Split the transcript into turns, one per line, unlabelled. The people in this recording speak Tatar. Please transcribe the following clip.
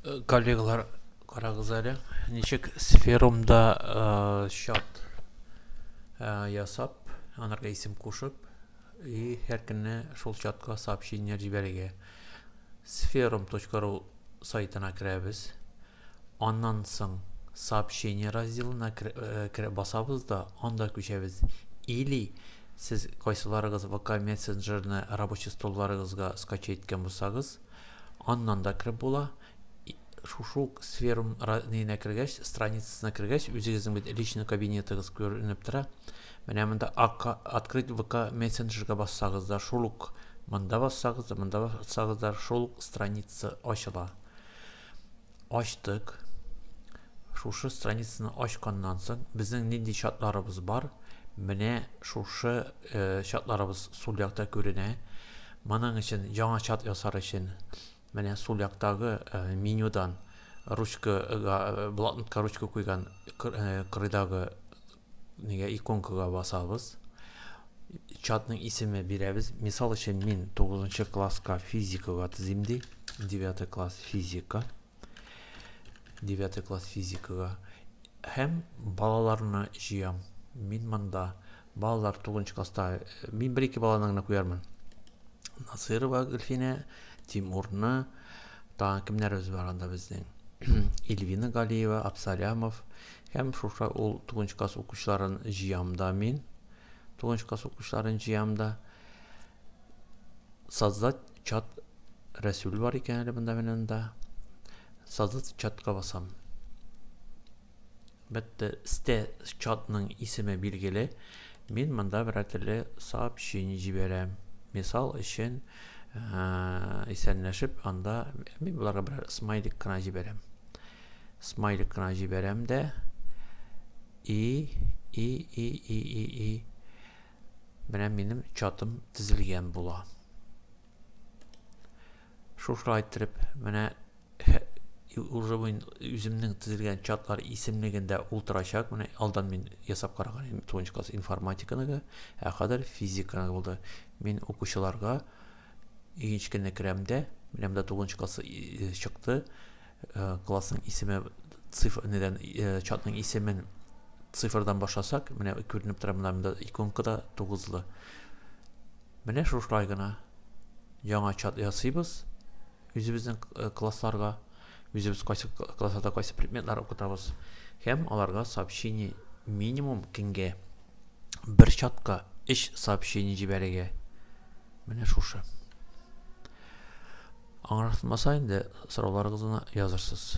Э, коллегалар, карагыз әле, ничек сферумда э, чат э, ясап, анарга исем кушып, и һәр көнне шул чатка сообщение җибәрергә. Сферум.ру сайтына керәбез. Аннан соң Сообщения разделына кереп басабыз да, анда күчәбез. Или сез кайсыларыгыз ВК мессенджерны рабочий столларыгызга скачать иткән булсагыз, аннан да кереп була. Шушы ук сферум нигенә кергәч, страницасына кергәч, үзегезнең бит личный кабинетыгыз күренеп тора. Менә монда Открыть ВК мессенджерга бассагыз да, шул ук монда бассагыз да, монда бассагыз да, шул ук страница ачыла. Ачтык. Шушы страницаны ачканнан соң безнең нинди чатларыбыз бар? Менә шушы э, чатларыбыз сул якта күренә. Моның өчен яңа чат ясар өчен менә сул яктагы э, менюдан ручкага, э, блокнотка ручка куйган кырыйдагы Нигә иконкага басабыз? Чатның исеме бирәбез. Мисал өчен, мин 9 класска физикага тезим ди. 9 класс физика. 9 класс физикага. Һәм балаларны җыям. Мин монда балалар 9 класста э, мин бер-ике баланы гына куярмын. Насырова Гөлфинә, Тимурны, тагын кемнәребез бар анда безнең? Ильвина Галиева, Абсалямов, Һәм шушы ул тугынч класс укучыларын җыям да мин. Тугынч класс укучыларын җыям да. Создать чат Рәсүл бар икән әле монда менен да. Создать чатка басам. Бәтте сте чатның исеме билгеле. Мин монда бер әтеле сообщение җибәрәм. Мисал өчен, исәнләшеп анда мин боларга бер смайлик кына җибәрәм. Смайлик кына җибәрәм дә. И, и, и, и, и, и. Менә минем чатым тезелгән була. Шушылай иттереп, менә уже мин үземнең тезелгән чатлар исемлегендә ултырачак. Менә алдан мин ясап караган идем 9 класс информатиканыгы, ә хәзер физиканы булды. Мин укучыларга игенчкене керәмдә, менә монда 9 класс чыкты. классның исеме цифр недән чатның исемен цифрдан башласак менә күренеп тора монда монда иконка да тугызлы менә шушылай гына яңа чат ясыйбыз үзебезнең классларга үзебез кайсы классларда кайсы предметлар укытабыз һәм аларга сообщение минимум көнгә бер чатка өч сообщение җибәрергә менә шушы Аңратмаса инде сорауларыгызны язырсыз.